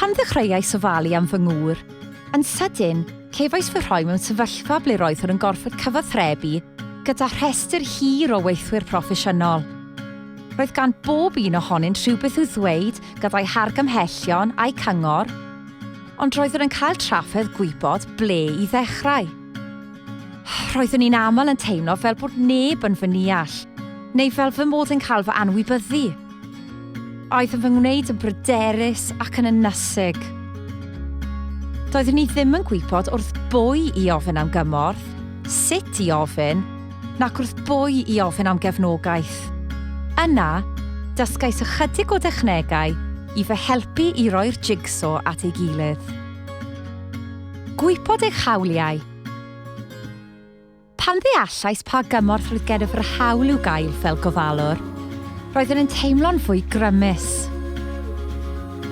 Pan ddechreuais ofalu am fy ngŵr, yn sydyn, cefais fy rhoi mewn sefyllfa ble roeddwn yn gorfod cyfathrebu gyda rhestr hir o weithwyr proffesiynol. Roedd gan bob un ohonynt rhywbeth i'w ddweud gyda'i hargymhellion a'i cyngor, ond roeddwn yn cael trafferth gwybod ble i ddechrau. Roeddwn i'n aml yn teimlo fel bod neb yn fy neall, neu fel fy mod yn cael fy anwybyddu. Aeth yn fy ngwneud yn bryderus ac yn ynysig. Doeddwn i ddim yn gwybod wrth bwy i ofyn am gymorth, sut i ofyn, nac wrth bwy i ofyn am gefnogaeth. Yna, dysgais ychydig o dechnegau i fy helpu i roi'r jigsaw at ei gilydd. Gwybod eich hawliau. Pan ddeallais pa gymorth roedd gennyf yr hawl i'w gael fel gofalwr, roeddwn yn teimlo'n fwy grymus.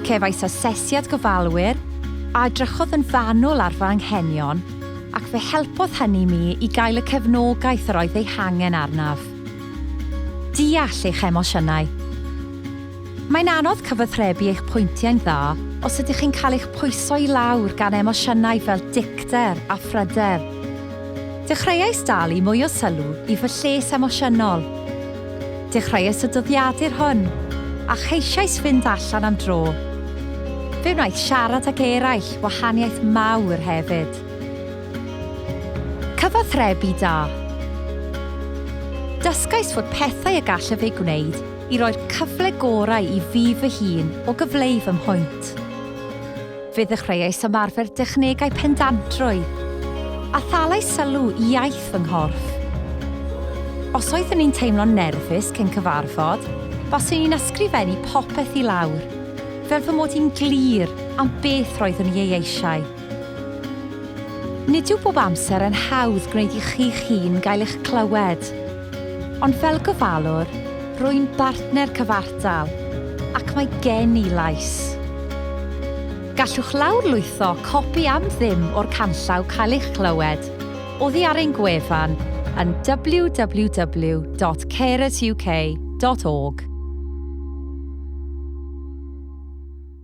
Cefais asesiad gofalwyr a edrychodd yn fanwl ar fy anghenion ac fe helpodd hynny mi i gael y cefnogaeth yr oedd ei hangen arnaf. Deall eich emosiynau. Mae'n anodd cyfathrebu eich pwyntiau'n dda os ydych chi'n cael eich pwyso i lawr gan emosiynau fel dicter a phryder. Dechreuais dalu mwy o sylw i fy lles emosiynol. Dechreuais y dyddiadur hwn, a cheisiais fynd allan am dro. Fe wnaeth siarad ag eraill wahaniaeth mawr hefyd. Cyfathrebu da. Dysgais fod pethau y gallaf eu gwneud i roi'r cyfle gorau i fi fy hun o gyfleu fy mhwynt. Fe ddechreuais ymarfer dechnegau pendantrwydd, a thalais sylw i iaith fy nghorff. Os oeddwn i'n teimlo'n nerfus cyn cyfarfod, baswn i'n ysgrifennu popeth i lawr, fel fy mod i'n glir am beth roeddwn i ei eisiau. Nid yw bob amser yn hawdd gwneud i chi'ch hun gael eich clywed. Ond fel gofalwr, rwy'n bartner cyfartal, ac mae gen i lais. Gallwch lawrlwytho copi am ddim o'r canllaw Cael eich clywed oddi ar ein gwefan yn www.carersuk.org.